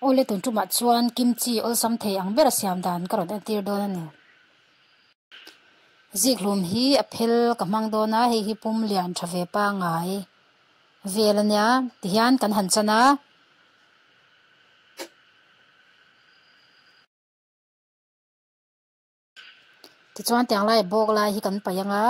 Aw le tun tumah chuan kimchi awlsam thei ang bera siam dan ka rawn entir dawn a ni. Zikhlum hi a phel ka hmang dawn a, hei hi pum lian tha ve pangai vel a nia tihian kan han chan a. Tichuan tiang lai bawk lai hi kan paih ang a.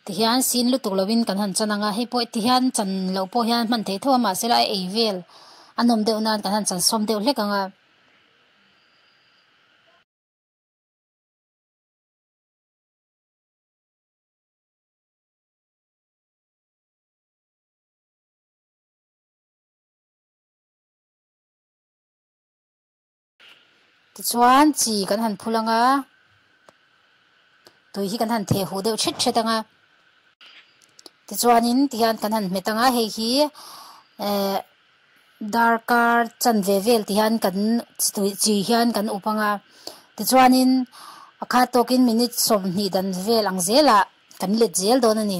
ti hian sin lutuk lo in kan han chan ang a, hei pawh ti hian chan loh pawh hian hman thei tho a mahse a ei vel a nawm deuh nan kan han chansawm deuh hlek ang a. Tichuan chi kan han phul anga, tui hi kan han theh huh deuh ṭhet ṭhet anga. Tichuanin ti hian kan han hmet anga, hei hi eh darkar chan ve vel ti hian kan tui chi hian kan up anga. Tichuanin pakhat tawkin minute sawmhnih dan vel ang zelah kan let zel dawn a ni.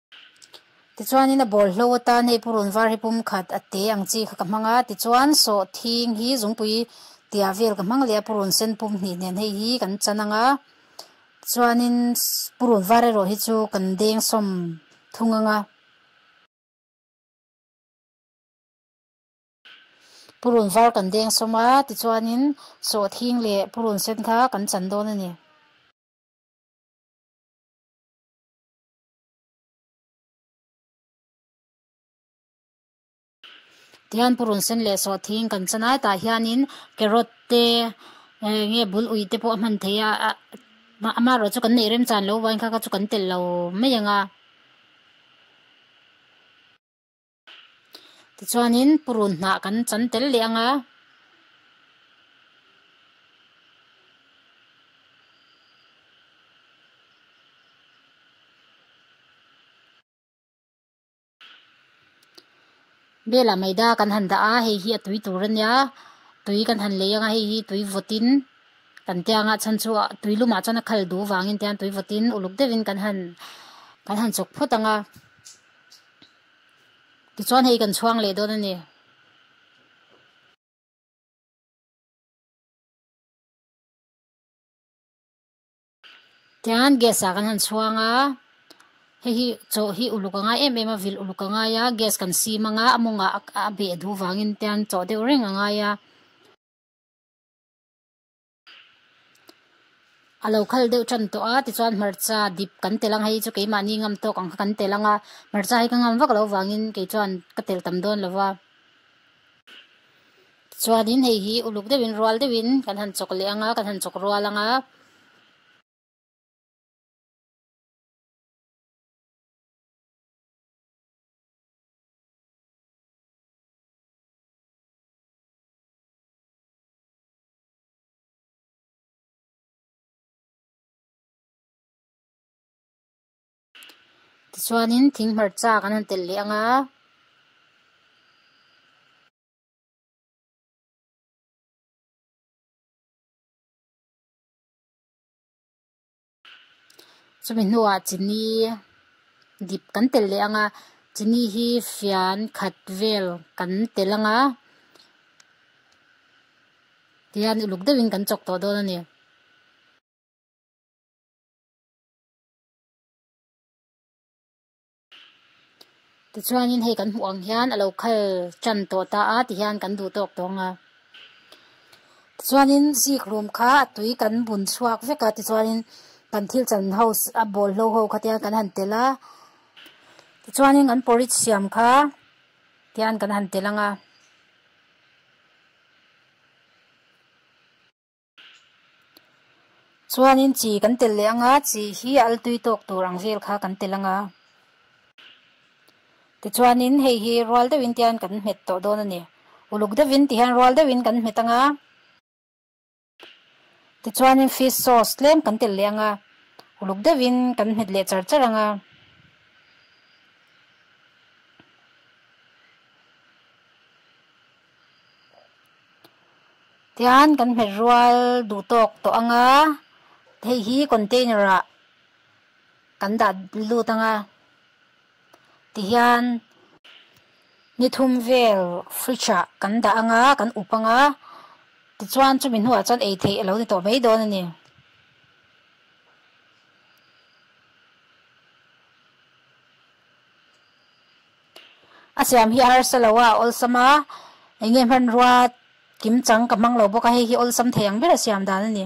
Tichuanin a bawl hlo a tan hei purun var hi pum khat a te ang chi kha ka hmang a, tichuan sawh thing hi zungpui tia vel ka hmang leh a, purun sen pum hnih nen hei hi kan chan ang a, tichuanin purun var erawh hi chu kan deng sawm thung ang a. Purun var kan deng sawm a, tichuanin sawh thing leh purun sen kha kan chan dawn a ni. Tihian purun sen leh sawh thing kan cha nai tah hianin carrot te eh nge bul ui te pawh a hman thei a ah mah ama erawh chu kan neih rem chan lo vang kha kha chu kan telh lo mai ang a. Tichuanin purun hnah kan chan tel leh ang a. Bela maida kan han dah a, hei hi a tui tur a nia, tui kan han lei ang a, hei hi tui vawtin kan tia nghah chhan chu tui lumah chuan a khal duh vangin tiang tui vawtin uluk deuhin kan han kan han chawk phawt ang a. Tichuan hei kan chhuang leh dawn a ni. Tichuan gas ah kan han chhuang a, hei hi chaw hi uluk a ngai em em a, vil uluk a ngai a, gas kan sim anga a mawngah a beh duh vangin tichuan chaw deuh reng a ngai a. A lo khal deuh ṭan tawh a, tichuan hmarcha dip kan tel ang, hei chu keimahni ngam tawk ang kha kan tel ang a, hmarcha hi ka ngam vak lo vangin kei chuan ka tel tam dawn lo va. Tichuanin hei hi uluk deuhin rual deuhin kan han chawk leh ang a, kan han chawk rual ang a. Tichuanin thing hmarcha kan han tel leh ang a. Chumi hnuah Chini dip kan tel leh ang a, Chini hi fian khat vel kan tel ang a, tihian uluk deuhin kan chawk tawh dawn a ni. Tichuanin hei kan hmuh ang hian a lo khal tan tawh ta a ti hian kan duh tawk tawng a. Tichuanin zikhlum kha a tui kan bun chhuak vek a, tichuanin kan thil chan ho a bawl hlo ho khat hian kan han tel a. Tichuanin kan porridge siam kha ti hian kan han tel ang a. Chuanin chi kan tel leh anga chi hi a altui tawk tur ang vel kha kan tel anga. Tichuanin hei hi rual deuhin tian kan hmet tawh dawn a ni. Uluk deuhin ti hian rual deuhin kan hmet anga. Tichuanin fish sauce tlem kan tel leh anga. Uluk deuhin kan hmet leh char char anga. Tichuan kan hmet rual duh tawk tawh ang a, hei hi container ah kan dah lut ang a, ti hian ni thum vel fridge ah kan dah ang a, kan up ang a, tichuan chumi hnua chuan ei theih a lo ni tawh mai dawn a ni. A siam hi a harsa lo a, a awlsam a, eng nge hmanrua kim chang ka hmang lo bawk a, hei hi awlsam thei ang ber a siam dan a ni.